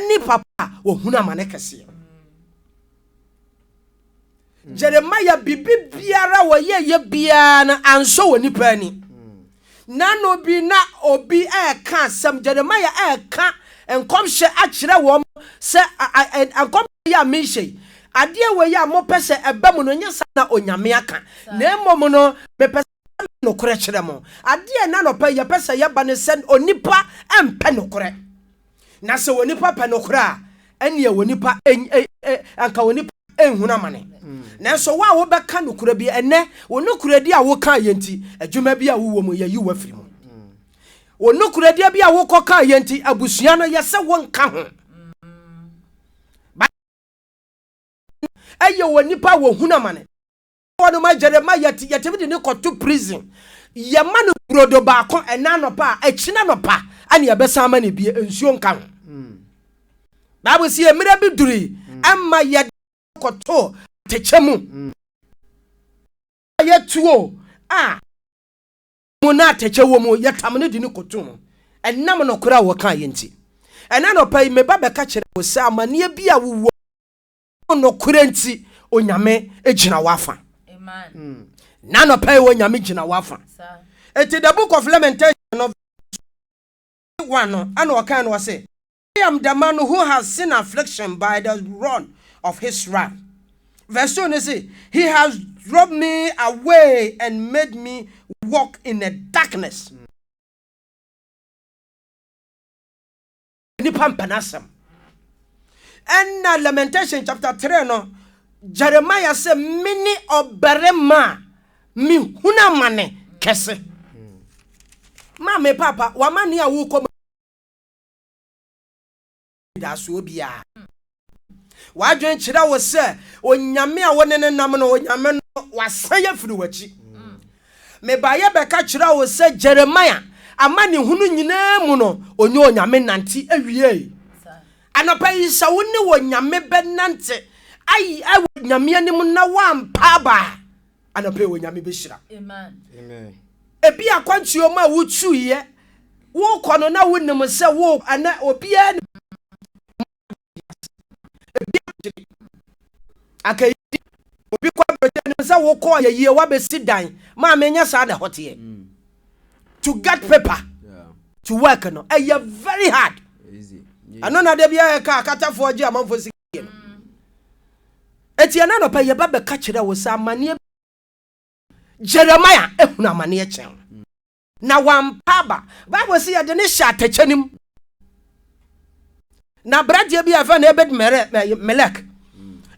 ne papa a wɔhunu amane kɛseɛ. Jeremiah bibi biara wɔyɛyɛ biara no ansɔ wɔ nipa ani. Nano bi na obi ɛreka asɛm, Jeremiah ɛreka nkɔmhyɛ akyerɛ wɔn sɛ nkɔmhyɛ yi a mehyɛ yi, adeɛ wei a mopɛ sɛ ɛba mu no, nyɛ saa na Onyame aka, na mmom no mepɛ sɛ nokorɛ kyerɛ mo. Adeɛ na anɔpa yi yɛpɛ sɛ yɛba ne sɛ onipa mpɛ nokorɛ. Na sɛ onipa pɛ nokorɛ a, ɛneɛ onipa anka onipa nhunu amane. Hmm. Nanso wo a wobɛka nokorɛ bi ɛnɛ, wo nokorɛdi a woka yɛ nti, adwuma bi a wowɔ mu yɛyi wo afiri mu. Hmm. Wo nokorɛdeɛ bi a wokɔka yɛ nti, abusua no yɛ sɛ wonka ho. ɛyɛ wɔ nipa wɔ hunu amane Wɔ no ma Jeremiah ti yɛtumi de no kɔto prison yɛma no brodo baako ɛna anɔpa a ɛkyina anɔpa ɛne ɛbɛsan ama no bie nsuo nka ho hmm. Bible si mmerɛ bi duri hmm. ɛma yɛde kɔto atɛkyɛ mu hmm. yɛtuo a mu na atɛkyɛ wɔ mu yɛtam no de no kɔto mu ɛnam nokorɛ a wɔka yɛ nti ɛna anɔpa yi meba bɛka kyerɛ wo sɛ amanneɛ bi a wowɔ Nokorɛ nti, Onyame gyina w'afa. Na nɔpɛ yi, Onyame gyina w'afa. Eti the book of Lamentation no, one no, ɛna ɔkan no ɔse, I am the man who has seen affliction by the rod of his wrath. Verse 2 no se, He has drove me away and made me walk in a darkness. Nnipa mpɛ n'asɛm. Ɛnna Lamentation chapter three no, Jeremiah sɛ, Mene ɔbarima a mehunu amane kɛse. Ma me papa, w'amane a worekɔ mu da so biara. W'adwene kyerɛ wo sɛ Onyame a wo ne no nam no, Onyame no, wasan afiri w'akyi. Mm. Mebaeɛ bɛka kyerɛ wo sɛ Jeremia amanehunu nyinaa mu no, ɔnyɛ Onyame nante awiei. Anɔpa yi sɛ wo ne Onyame bɛnante ayi ɛwɔ Onyame anim na woampa aba a, anɔpa yi Onyame bɛhyira. Ebi akwantuo mu a wotuiɛ, wokɔ no na wonim sɛ wo ɛnɛ obiara anka ɛyɛ yie obi kɔ aburokyi anim sɛ wokɔ yɛ yie wabɛsi dan maa menyɛ saa na ɛhɔ teɛ mm. to get paper yeah. to work no ɛyɛ eh, very hard ɛno na da bi ayɛ ka akatafoɔ gye amanfoɔ sika yɛ no ɛti ɛna nɔpɛ yɛba bɛka kyerɛ wo sɛ amanneɛ jeremia ɛhunu amanneɛ kyɛn na wampa aba. Bible se yɛde no hyɛ atɛkyɛ no mu. Na aberanteɛ bi a ɛfɛ no Ebed Melek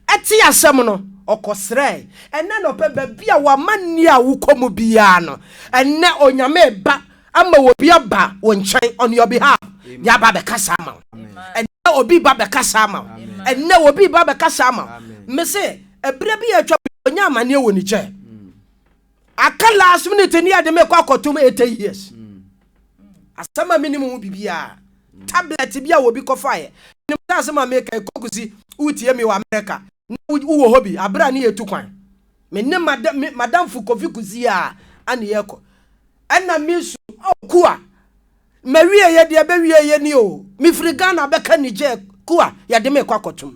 ɛte asɛm no ɔkɔsrɛe. Ɛnɛ na ɔpɛ baabi a wama nni a wokɔ mu biara no. Ɛnɛ onyame ba ama obi aba wo nkyɛn on your behalf. Deɛ aba bɛkasa ama wo. Ɛnɛ obi ba bɛkasa ama wo. Ɛnɛ obi ba bɛkasa ama wo. Mese ɛberɛ bi a atwa bi ɔnya amaneɛ wɔ Niger. Aka last minute ni ade mekɔ akɔtom 80 years. Asɛm a menim ho biribiara. Tablet bi a obi kɔfaeɛ. Menim sɛ asɛm a meka yi Kokusi wotie me wɔ America na wowɔ hɔ bi aberɛ a ne yɛtu kwan. Me ne m'adamfo Kofi Kusi a ɛne yɛkɔ. Ɛna mesu oh Kua mawieɛ deɛ ɛbɛwieɛ ni o. Mefiri Ghana bɛka Niger Kua yɛde me rekɔ akɔtom.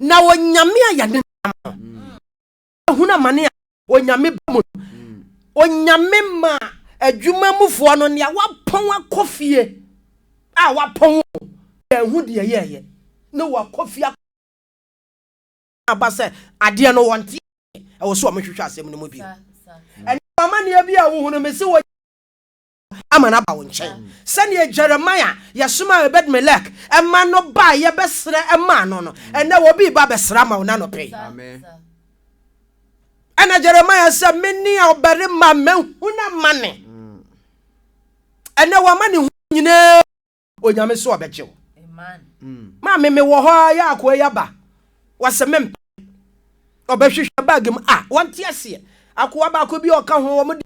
Na Onyame a yɛne nam no. ahunu amane a Onyame ba mu no, Onyame maa adwuma mufoɔ no nea wapɔn akɔ fie a wapɔn wɔn, yɛanhu deɛ yɛɛyɛ na wɔakɔ fie akɔ aba sɛ adeɛ no wɔnte aseɛ, ɛwɔ sɛ wɔhwehwɛ asɛm no mu bio. Ɛnam amaneɛ bi a wohunu me se wɔnya ama no aba wo nkyɛn, sɛdeɛ Jeremia yɛsomaa Ebed-Melek ma no baeɛ bɛsrɛ maa no no, ɛnnɛ obi reba abɛsrɛ ama wo no anɔpa yi. Ɛna Jeremia sɛ, me ne ɔbarima mahu no amane. Ɛnɛ wama ne ho nyinaa Onyame so ɔbɛgye wo. Maame me wɔ hɔ a yɛ akoa yi aba. Wɔsɛ me mpa. Ɔbɛhwehwɛ bag mu a wɔnte aseɛ. Akoa baako bi a ɔka ho wɔn de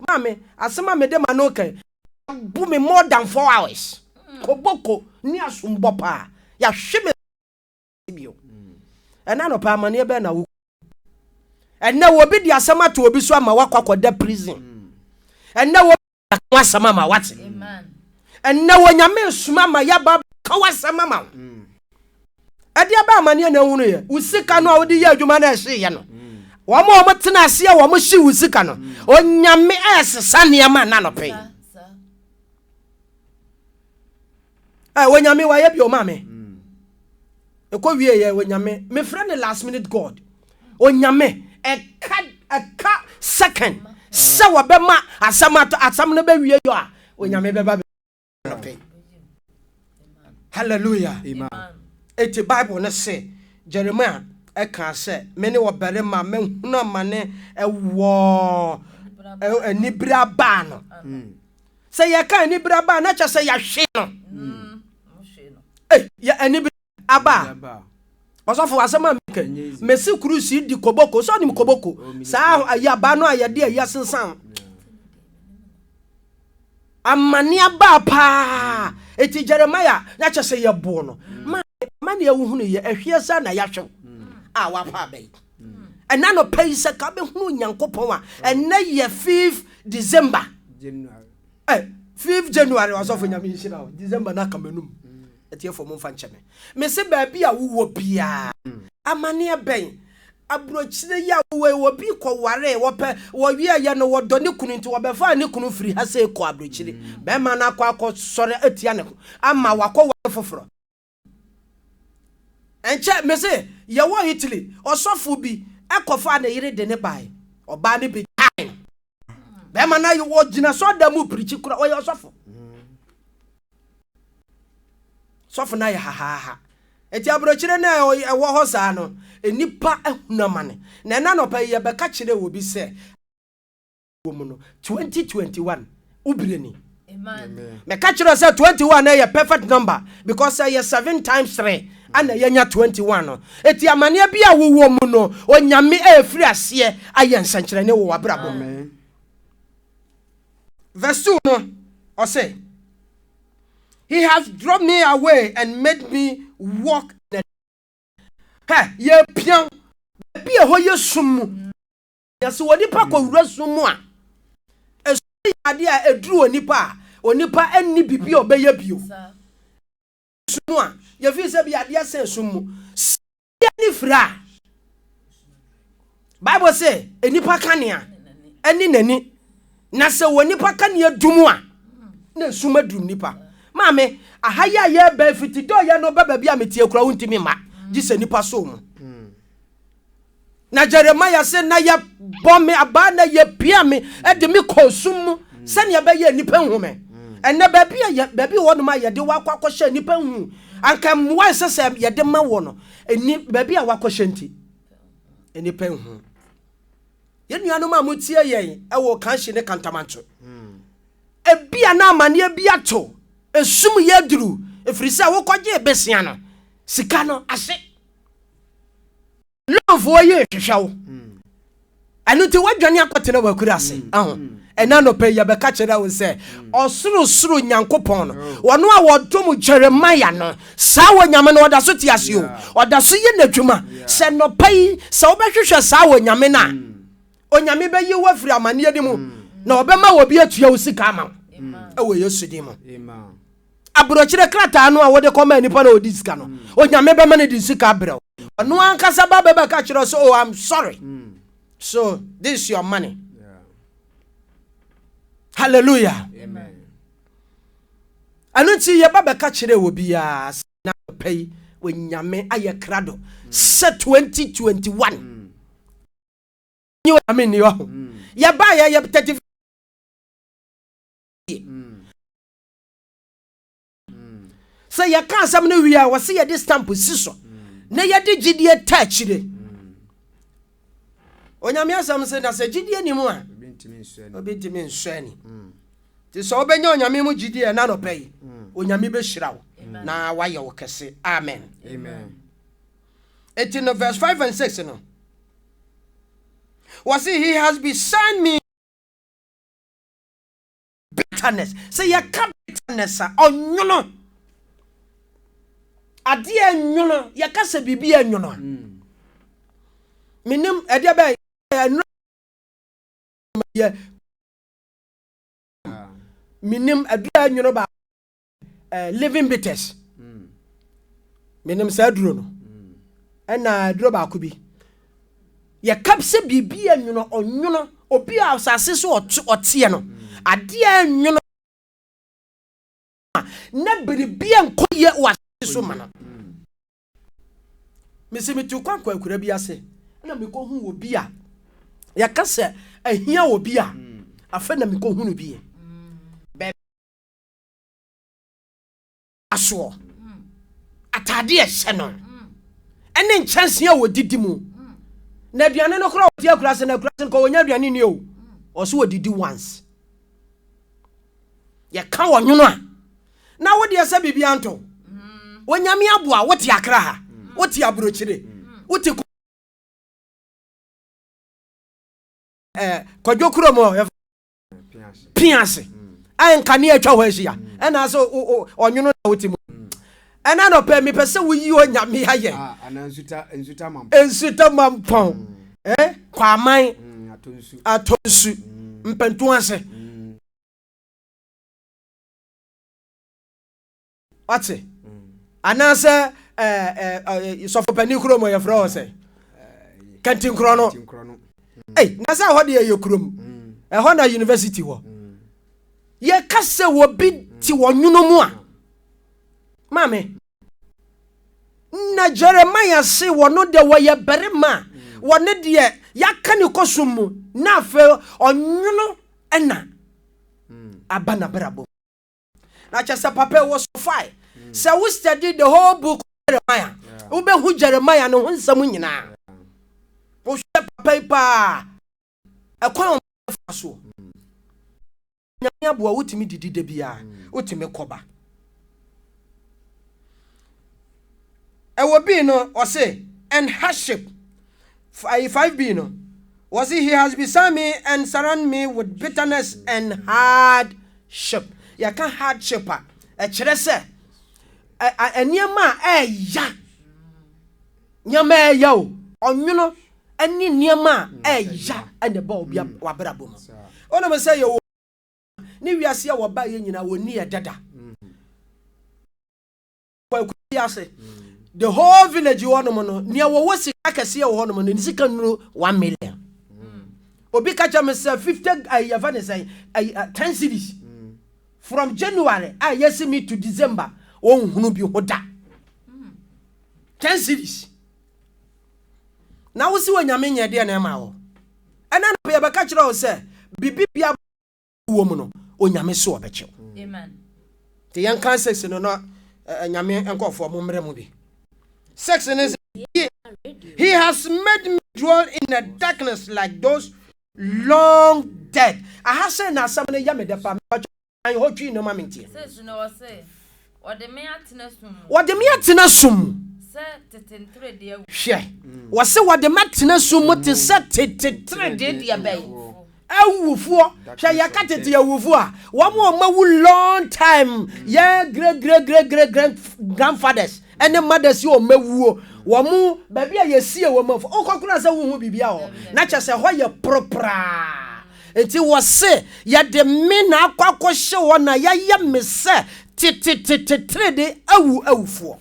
maame asɛm a mede ma no kan abu me more than four hours. Koboko ne asombɔ paa. Yɛahwe me. bio. Ɛna nɔpɛ amaneɛ bɛn na wo ɛnɛ obi de asɛm ato obi so ama wakɔ akɔda prison ɛnɛ obi de asɛm asɛm ama wate ɛnɛ onyame soma ama yɛba ka wasɛm ama wo ɛde aba amaneɛ na ehunu yɛ wo sika no a wode yɛ adwuma na ɛhye yɛ no wɔn a wɔn tena aseɛ wɔn hye wo sika no onyame ɛsesa nneɛma nanɔpɛ yi. ɛ onyame wayɛ bi ɔma me ɛkɔ wie yɛ onyame mefrɛ ne last minute god onyame ɛka ɛka second sɛ wɔbɛma asɛm ato asɛm no bɛwie yɔ a onyame bɛba bɛpɛ hallelujah ɛti bible no se jeremia ɛka sɛ me ne ɔbarima mahunu amane ɛwɔ anibere abaa no hmm. Sɛ yɛka anibere aba a, na kyerɛ sɛ yɛahwe no. Ei, yɛ anibere aba a. Ɔsɔfo, asɛm a meka yi, mese kurusi di koboko. Sɛ ɔnim koboko, saa ayi aba no a yɛde ayi asensan. Amane aba paa. Eti Jeremiah, na kyerɛ sɛ yɛboo no. Ma, ma nea wohunu yɛ ahwie saa na yɛahwew a wapa aba yi. ɛna no pɛ yi sɛ ka bɛhunu nyankopɔn a ɛnɛ yɛ 5 december eh, 5 january ɔsɔfo nyame nhyira o december no aka m'anum mm. ɛtiɛfo mo mfa nkyɛ me mese baabi a wowɔ biaa mm. amanneɛ bɛn aburokyire yi a wowɔ wɔ bi kɔware wɔpɛ wɔwiɛyɛ no wɔdɔ ne kunu nti wɔbɛfaa ne kunu firi ha sɛ kɔ aburokyire mm. bɛrima no akɔ akɔ sɔre atia ne ho ama wakɔ ware foforɔ Ɛnkyɛ, mese, yɛwɔ Italy, ɔsɔfo bi kɔfaa ne yere de no bae. Ɔbaa no begyaee no. Bɛrima no ayɛ, ogyina sɔreda mu pirikyi kura, ɔyɛ ɔsɔfo. Sɔfo no ayɛ hahaaha. Enti aburokyire no a ɛwɔ hɔ saa no, nnipa ahunu amane. Na ɛna anɔpa yi yɛbɛka kyerɛɛ obi sɛ. wɔ mu no 2021 wo bere ni meka kyerɛ sɛ 21 ɛyɛ perfect number because ɛyɛ 7 times 3 ana yɛnya 21 no ɛti amanneɛ bi a wowɔ mu no onyame ɛfiri aseɛ ayɛ nsɛnkyerɛne wɔ wabrabɔ mu verse 2 no ɔsɛ he has drawn me away and made me walk in the yɛpia baabi a ɛhɔ yɛ sum mu Na sɛ onipa kɔ wura sum mu a, esum yɛ adeɛ a ɛduru onipa a, onipa nni biribi a ɔbɛyɛ bio. Sum mu a, yɛfiri sɛ bi adeɛ sɛn sum mu. Sɛ obi ani fira a, Bible se, onipa kanea ne n'ani. Na sɛ onipa kanea dum a, na esum aduru nipa. Maame, aha yi a yɛreba afiti dɔɔyɛ no ba baabi a meteɛ koraa wontumi mma gye sɛ nipa soo mu. Na Jeremiah se, Na yɛbɔ me abaa na yɛpia me de me kɔɔ sum mu sɛnea ɛbɛyɛ a nnipa nhu me. Ɛnnɛ, baabi a yɛ, baabi wɔ hɔnom a yɛde wo akɔ akɔhyɛ nnipa nhu, anka mmoa a ɛsɛ sɛ yɛde ma wɔ no, nni baabi a woakɔhyɛ nti, nnipa nhu. Yɛn nuanom a motie yɛn wɔ Kanshi ne Kantamancho, ebia na amanneɛ bi ato esum yɛ aduru, ɛfiri sɛ wokɔgyee besia no sika no ase. Lɔnfoɔ yi rehwehwɛ wo. Ɛno nti woadwane akɔtena w'akura ase. Aho. Ɛna anɔpa yi yɛbɛka kyerɛ wo sɛ ɔsorosoro Nyankopɔn no, wɔn a wɔdom Jeremiah no, saa Onyame no ɔda so te ase o. Ɔda so yɛ n'adwuma. Sɛ anɔpa yi sɛ wobɛhwehwɛ saa Onyame no a, Onyame bɛyi wo afiri amanneɛ no mu na ɔbɛma obi atua wo sika ama wo. Ɛwɔ Yesu din mu. aburokyerɛ krataa no a wode kɔmaa nipa na ɔdi sika no onyame bɛma no de sika abrɛ wo ɔno ankasa ba bɛbɛka kyerɛ sɛ oh i'm sorry mm. so this is your money yeah. hallelujah ɛno nti yɛba bɛka kyerɛ wɔ biara sɛ na pɛ yi onyame ayɛ krado mm. sɛ 2021 mm. nyɛ onyame nni hɔ yɛba yɛyɛ 30 sɛ yɛka asɛm no wie a wɔse yɛde stamp si so na yɛde gyidie ta akyire onyame asɛm se na sɛ gyidie ni mu a obi ntumi nsɔ ani nti sɛ wobɛnya onyame mu gyidie ɛna nɔpɛ yi onyame bɛhyira wo na wayɛ wo kɛse amen ɛti no verse 5 and 6 no wɔse he has besigned me bitterness sɛ yɛka bitterness a ɔnwono adeɛ nwono yɛka sɛ biribi nwono a hmm. menim ɛdeɛ bɛyɛ ɛnura yɛ menim adura nwono baako Eh, living bitters mm. menim saa duro no mm. ɛna duro baako bi yɛka sɛ biribi yɛ nwono ɔnwono obi a asase so ɔteɛ no mm. adeɛ nwono na biribi nkɔ yɛ wɔ asase so ma no mesi metu kwan kɔ akura bi ase ɛna mekɔhu wɔ bi a yɛka sɛ ahia wɔ bi a afei na mekɔhunu bi yɛ asoɔ, ataadeɛ a ɛhyɛ no, ɛne nkyɛnse a wɔdidi mu. Na aduane no korɔ wɔte akura ase, na akura ase no kɔ wɔnya aduane ni o. Ɔso wɔdidi once. Yɛka wɔ nwono a, na wodeɛ sɛ biribi anto. Onyame aboa, wote akra ha, wote aburokyire, wote kɔ. Eh, kwadwo kurom hɔ. pia ase a nkanea atwa hɔ ahyia ɛna sɛ ɔnwono na wote mu ɛna nɔpɛ mepɛ sɛ woyi onyame ayɛ nsuta mampɔn kwaman atɔ nsu mpɛnto ase wate anaasɛ sɔfopanin kurom yɛfrɛ wɔ sɛ kantinkorɔ no na sɛ ɛhɔ deɛ yɛ kurom ɛhɔ na university wɔ yɛka sɛ wɔbi te wɔ nwono mu a maame na jeremia se wɔno deɛ wɔyɛ barima a wɔne deɛ yɛaka ne kɔsom mu na afei ɔnwono ɛna aba n'abrabɔ na kyɛ sɛ papa wɔ so fae sɛ wo study the whole book of jeremiah wobɛhu jeremiah ne ho nsɛm nyinaa wohwɛ papa yi paa ɛkwan a ɔmfa soɔ nyame aboa wotumi didi da biara wotumi kɔba ɛwɔ bii no ɔse and hardship Ayi 5B no, wɔse he has beside me and surround me with bitterness and hardship. Yɛka hardship a, ɛkyerɛ sɛ nneɛma a ɛɛya, nneɛma ɛɛya o, ɔnwono ne nneɛma a ɛɛya na ɛba obi w'abrabɔ mu. Wonim sɛ yɛwɔ ne wiase a wɔbaeɛ nyinaa wɔnni ɛdɛ da. kwaku bi ase the whole village wɔ nom no nea wɔwɔ sika kɛseɛ wɔ hɔ nom no ne sika nuru one million hmm. obi ka kyerɛ me sɛ fifty eh, yɛfɛ ne sɛ eh, eh, ten cities hmm. from january a ah, yɛsi me to december wɔnhunu bi ho da hmm. ten cities na wosi wɔ nyame nyɛ deɛ na ɛma wɔ ɛna na yɛbɛka kyerɛ wo sɛ biribi bia wɔ mu no onyame so ɔbɛkyɛw nti yɛnka sex no na nyame nkɔfoɔ mo mmerɛ mu bi sex no he, he has made me dwell in a darkness like those long dead aha sɛ na asɛm no yɛ me dɛ pa mepatwɛ hotwii no ma menteɛ Wɔde me atena sum mu. Wɔde me atena sum mu. Sɛ tete nteredee awu. Hwɛ, wɔse wɔde me atena sum mu te sɛ tete teredee deɛ bɛn? Awufoɔ. Hwɛ, yɛka tete awufoɔ a, wɔn a wɔawu long time, yɛ great great great great great grandfathers ne mothers yi wɔn awuo, wɔn baabi a yɛsie wɔn afo, wokɔ koraa sɛ wonhu biribiara wɔ hɔ, na kyerɛ sɛ ɛhɔ yɛ poropraa. Enti wɔse, Yɛde me na akɔ akɔhye hɔ na yɛayɛ me sɛ tetetete trenee awu awufoɔ.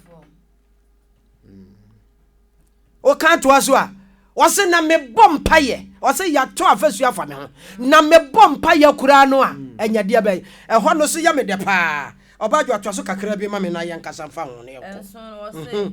Woka toa so a, wɔse na mebɔ mpayɛ, wɔse yɛato afasuo afa me ho, na mebɔ mpayɛ koraa no a, ɛnya deɛ bɛn? Ɛhɔ no so yɛ me dɛ paa. Ɔbaa Adwo toa so kakra bi ma me na yɛnkasa mfa ho na yɛnkɔ.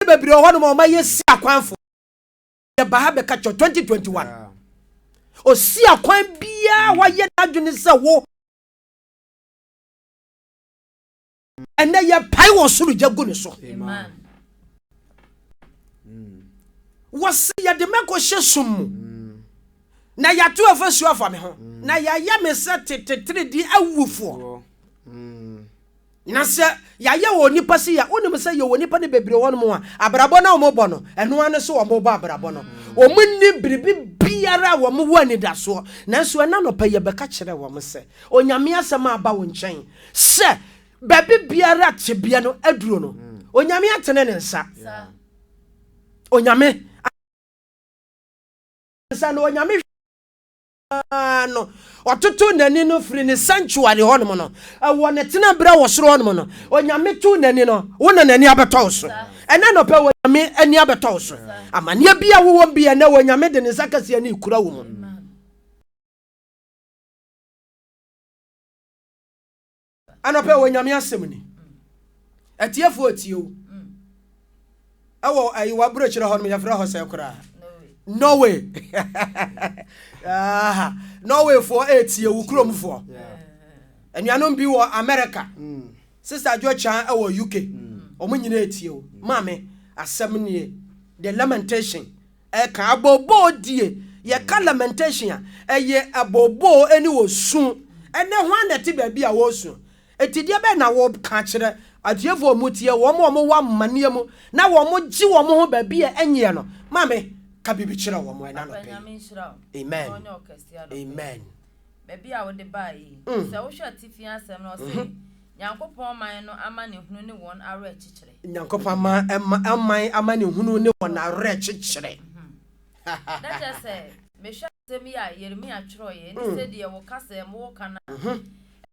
Ade bebree wɔ hɔnom a ɔma yɛsi akwan fo. Yɛba ha bɛka kyerɛ 2021. Osi akwan biara wayɛ n'adwene sɛ wo. Ɛnɛ yɛpae wɔ soro gya gu ne so. Wɔse yɛde mɛkɔ hyɛ sum mu. Na yɛato afasuo afa me ho. Na yɛayɛ me sɛ tetetere di awufoɔ. Na sɛ yɛayɛ wɔ onipa se a, wonim sɛ yɛwɔ nnipa no bebree wɔ hɔnom a, abrabɔ no a wɔbɔ no, ɛno ara ne so wɔbɔ abrabɔ no. Wɔnni biribi biara a wɔwɔ anidasoɔ. Nanso ɛnnɛ anɔpa yi, yɛbɛka kyerɛ wɔn sɛ, Onyame Asɛm aba wo nkyɛn sɛ, baabi biara a tebea no aduro no, Onyame atene Ne nsa. Onyame atene Ne nsa, na Onyame hwɛ. no, ɔtoto n'ani no firi ne sanctuary hɔnom no, ɛwɔ ne tenabere wɔ soro hɔnom no, Onyame to n'ani no, wo na n'ani abɛtɔ wo so. Ɛnɛ anɔpɛ, Onyame ani abɛtɔ wo so. Amaneɛ bi a wowɔ bi ɛnɛ, Onyame de ne nsa kɛseɛ no rekura wo mu. Anɔpɛ wɔ Nyame asɛm ni. Atiefoɔ atie o. Ɛwɔ ayi w'aburokyerɛ hɔ nom yɛfrɛ hɔ sɛ koraa. Norway. Aha. Norwayfoɔ ɛretie wo kuromfoɔ. Anuanom bi wɔ America. Mm. Sister Adwo Chan ɛwɔ UK. Wɔn mm. nyinaa ɛtie wo. Maame, asɛm nie. The lamentation. Ɛka abooboo die. Yɛka lamentation a, ɛyɛ abooboo ne osu. Ɛnnɛ, hwan na ɛte baabi a wɔresu? Enti deɛ bɛn na woreka akyerɛ atiefoɔ a wɔtie, wɔn a wɔwɔ amaneɛ mu na wɔgye wɔn ho baabi a ɛnyeɛ no? Maame, ka biribi kyerɛ wɔn ɛnnɛ anɔpa yi. Amen. Amen. baabi a wode bae yi. Sɛ wohwɛ atifi asɛm no, ɔse, Nyankopɔn man no amanehunu ne wɔn awerɛkyekyerɛ. Nyankopɔn man amanehunu ne wɔn awerɛkyekyerɛ. Na kyerɛ sɛ, mehwɛ asɛm yi a Yeremia twerɛeɛ ne sɛdeɛ wo kasa mu woka no a,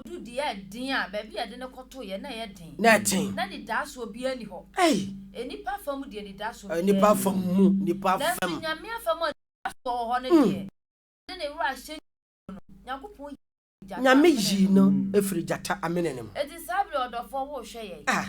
Odu deɛ ɛyɛ den a, baabi a yɛde no kɔtoeɛ na ɛyɛ den. Na ɛten. Na anidaasoɔ biara nni hɔ. Ei! Nnipa afa mu deɛ anidaasoɔ biara nni hɔ. Nnipa afa mu, nnipa afa mu. Nanso Nyame afa mu a anidaasoɔ wɔ hɔ no deɛ, mm, ɔde ne werɛ ahyɛ Nyankopɔn mu no, Nyankopɔn yii no firi gyata amena no mu. Nyame yii no firi gyata amena no mu. Enti saa berɛ yi, ɔdɔfoɔ, worehwɛ yɛn. Ah!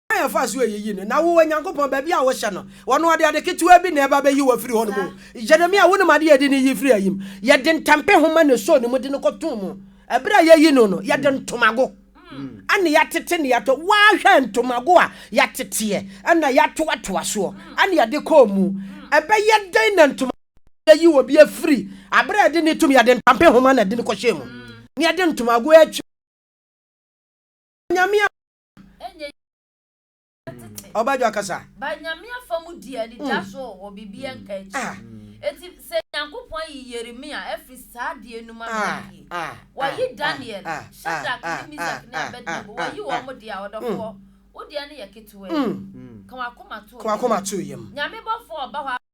Kwan a yɛfaa so yiyii no, Na wo, Onyankopɔn, baabi a wohyɛ no, wɔno ɔde ade ketewaa bi na ɛba bɛyi wo afiri hɔnom o. Yeremia, wonim ade a ɛde no yi firii ayim? Yɛde ntampehoma na ɛsɔɔ ne mu de no kɔtoo mu. Ɛberɛ a yɛreyi no no, yɛde ntomago na yɛatete na yɛatɔ. Woahwɛ ntomago a yɛateteɛ na yɛatoatoa soɔ na yɛde kɔɔ mu? Ɛbɛyɛ dɛn na ntomago a yɛyi obi afiri aberɛ a yɛde no retum, yɛde ntampehoma na ɛde no kɔhyɛɛ mu, na yɛde ntomago atwa Onyame a Ɔbadwa kasa. Ba nyame afa mu di ani gya mm. so wɔ biribi ɛnka mm. akyi. Ah. Eti sɛ Nyankopɔn ayi Yeremia afiri saa adeɛ no mu ama ah, yie. Ah, Wayi Daniel, Shadrach ne Mizak ne Abednego, wayi wɔn mo deɛ a ɔdɔfoɔ. Mm. Wo deɛ no yɛ ketewa yi. Ka wakoma to yam. Nyame bɔfoɔ ɔba hɔ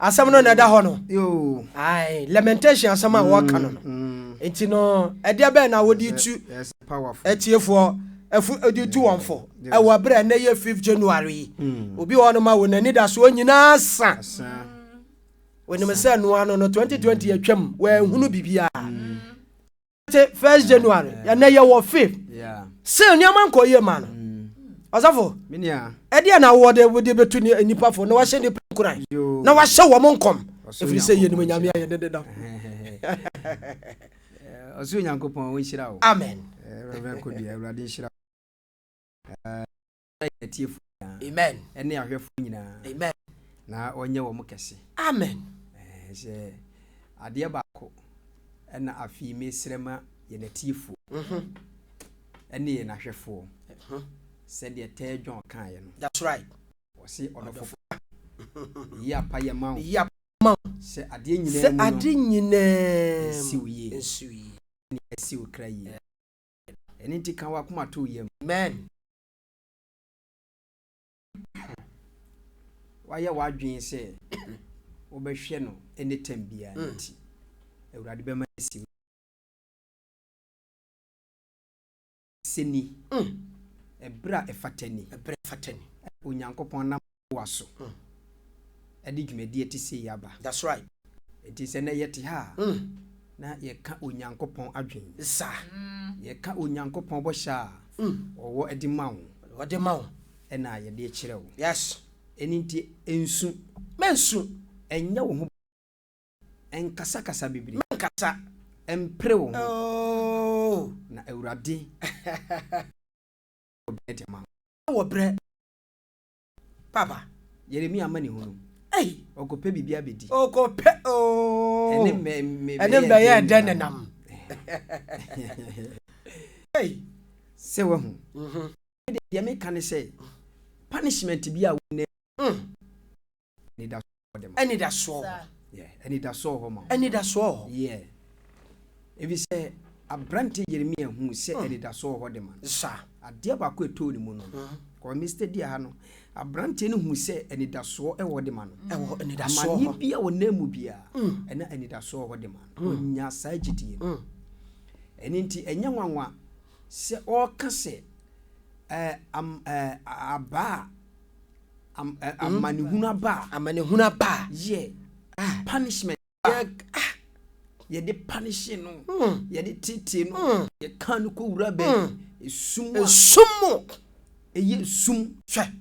Asɛm no na ɛda hɔ no. Ae, lamentation asɛm a wɔka no no. Mm, mm. Nti no, ɛdeɛ bɛn na wode tu atiefoɔ ɛfo de tu wɔn fo ɛwɔ abirɛ na ɛyɛ fifth January yi. Mm. Obi wɔ no ma wɔn ani da soɔ nyinaa sa. Wɔnim sɛ noa no no 2020 atwam wɔahunu biribiara. te first january ɛnɛ yɛ wɔ fifth sɛ nneɛma nkɔ yie ma no ɔsɔfo ɛdeɛ na wowɔ de wode bɛtu ne nnipa fo na wahyɛ nnipa nkuran na wahyɛ wɔ mo nkɔm ɛfiri sɛ yɛnim nyame ayɛ dede da ɔsoro nyankopɔn ɔnhyira wo amen awurade nhyira yɛn atiefo nyinaa ne ahwɛfo nyinaa na ɔnyɛ wɔn kɛse. Amen. Sɛ adeɛ baako ɛna afei mesrɛ ma yɛn atiefo mhm. ɛne yɛn ahwɛfoɔ mhm. sɛdeɛ tɛɛ John kaeɛ no. That's right. Ɔse ɔdɔfo yi apa yɛ ma wo sɛ adeɛ nyinaa mu no nsiw yie nsiw yie ɛne ɛsiw kra yie. Ɛno nti ka w'akoma to yam. Amen. Wayɛ w'adwene sɛ wobɛhwɛ no anytime biara mm. nti Awurade bɛma asi mu. Sɛ ni. Mm. Ɛberɛ a ɛfata ni. Ɛberɛ ɛfata ni. Onyankopɔn nam Yehowa so de dwumadi a ɛte sei aba. That's right. Enti sɛ nnɛ yɛte ha a, mm. na yɛka Onyankopɔn adwene. Sa. Yɛka Onyankopɔn bɔhyɛ a mm. ɔwɔ de ma wo. Ɔde ma wo. Ɛna yɛde kyerɛ wo. Yes. Ɛno nti nsu. Mɛnsu. Ɛnyɛ wo ho. Ɛnkasakasa bebree. Mɛnkasa. Ɛmpere wo ho. Oh. Na Awurade. Wɔ brɛ de ma wo. Wɔ brɛ. Papa, Yeremia amanehunu. Ei! Ɔkɔpɛ biribi abɛdi. Ɔkɔpɛ ooo. Ɛne mbɛ mbɛ Ɛne mbɛ yɛ dɛ nenam. Ei! Sɛ wahu. Mhm. Deɛ meka ne sɛ punishment bi a wo nɛ. Mm. Anidasoɔ hɔ de ma. Anidasoɔ hɔ. Yeah, anidasoɔ hɔ ma. Anidasoɔ hɔ. Yeah. Ebi sɛ aberante Yeremia hu sɛ hmm. anidasoɔ hɔ de ma. Sa. Adeɛ baako ɛtoo ne mu no. Hmm. Kɔ Mr. Di aha no. Aberante no hu sɛ anidasoɔ ɛwɔ de ma no. Ɛwɔ anidasoɔ hɔ. Amaneɛ bi a ɔnam mu biara. Hmm. Ɛna anidasoɔ hɔ de ma no. Ɔnya saa gyidie no. Ɛno nti ɛnyɛ nwanwa sɛ ɔreka sɛ ɛɛ am ɛɛ abaa. Am, eh, hmm? amanehunu aba a. Amanehunu aba a. Yɛ. Ah. Punishment. Yɛ. Ah. Yɛde panishe no. Hmm. Yɛde tete no. Hmm. Yɛka no kɔ wura bɛn. Hmm. Esum a. Esum mu. Ɛyɛ esum. Hwɛ.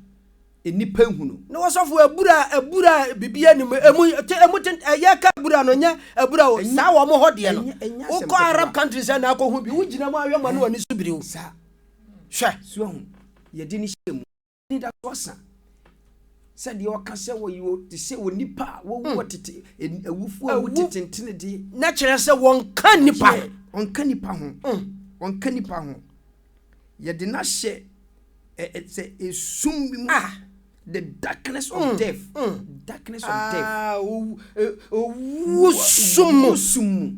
Nnipa ehunu. Na wɔsɔfo abura abura bibi anim emu te emu te ɛyɛ ka abura no nyɛ abura o. Saa wɔn hɔ deɛ no. Wokɔ Arab countries na akɔ ho bi. Wogyina mu ahwɛ ma no wɔ ne so biriw. Saa. Hwɛ. Suahu. Yɛde ne hyɛ mu. anidaso asa sɛ deɛ ɔka sɛ wɔyi wɔ te sɛ onipa a wɔwu wɔ hmm. tete en- awufoɔ a wɔte tentene deɛ na kyerɛ sɛ wɔnka nipa Yɛ, ɔnka nipa ho hmm. ɔnka nipa ho yɛde no ahyɛ ɛ- ɛ- sɛ esum bi mu Ah. the darkness of Mm, death mm. darkness of death Ah, owu- eh, owu sum mu. Owu sum mu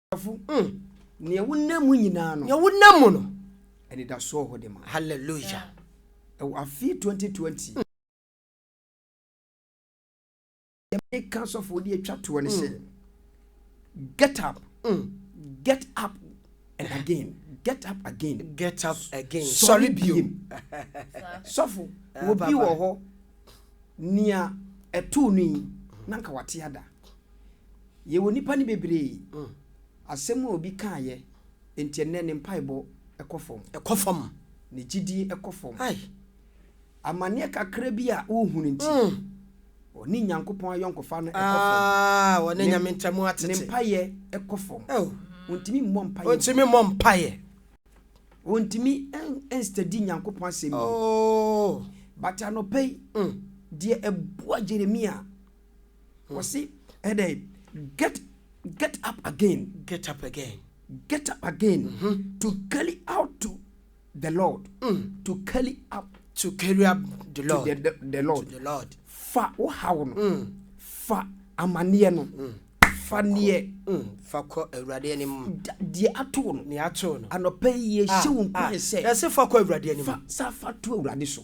Ɔdefo, mm, nea wonam mu nyinaa no. Nea wonam mu no. Anidasoɔ hɔ de ma. Hallelujah. Ɛwɔ afe 2020. Mm. Yɛmɛ ka sɔfo de atwa toɔ no sɛ. Get up. Mm. Get up and again. Get up again. Get up again. Sɔre biem. Sɔfo, obi wɔ hɔ nea ɛtoo no yi na nka wate ada. Yɛwɔ nnipa no bebree. Asɛm a obi kaeɛ nti ɛnnɛ ne mpaebɔ kɔ fam. Ɛkɔ fam. Ne gyidie kɔ fam. Ai! Amaneɛ kakra bi a wohunu nti. Mm. Ɔne Nyankopɔn ayɔnkofa no kɔ fam. Aa, wɔne Ne- Nyame ntam Ne atete. mpaeɛ kɔ fam. Oh. Ontumi mmɔ mpaeɛ. Ontumi mmɔ mpaeɛ. Ontumi ɛn- ɛnstadi Nyankopɔn asɛm yie. Oh. But anɔpa yi, Mm. deɛ ɛboa Jeremia Wɔsi ɛdɛ get get up again. Get up again. Get up again. Mm -hmm. To carry out to the Lord. Mm. To carry up. To carry up the Lord. To the, the, the Lord. To the Lord. Fa wo haw no. Mm. Fa amaneɛ no. Mm. Fa neɛ. Mm. Fa kɔ awurade anim. Deɛ ato no. Deɛ ato no. Anɔpɛ yie ah, hyɛ wo nkuran ah. sɛ. Yɛsɛ fa kɔ awurade anim. Fa sa fa to awurade so.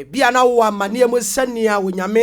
Ebia na wowɔ amanneɛ mu sɛ nea Onyame.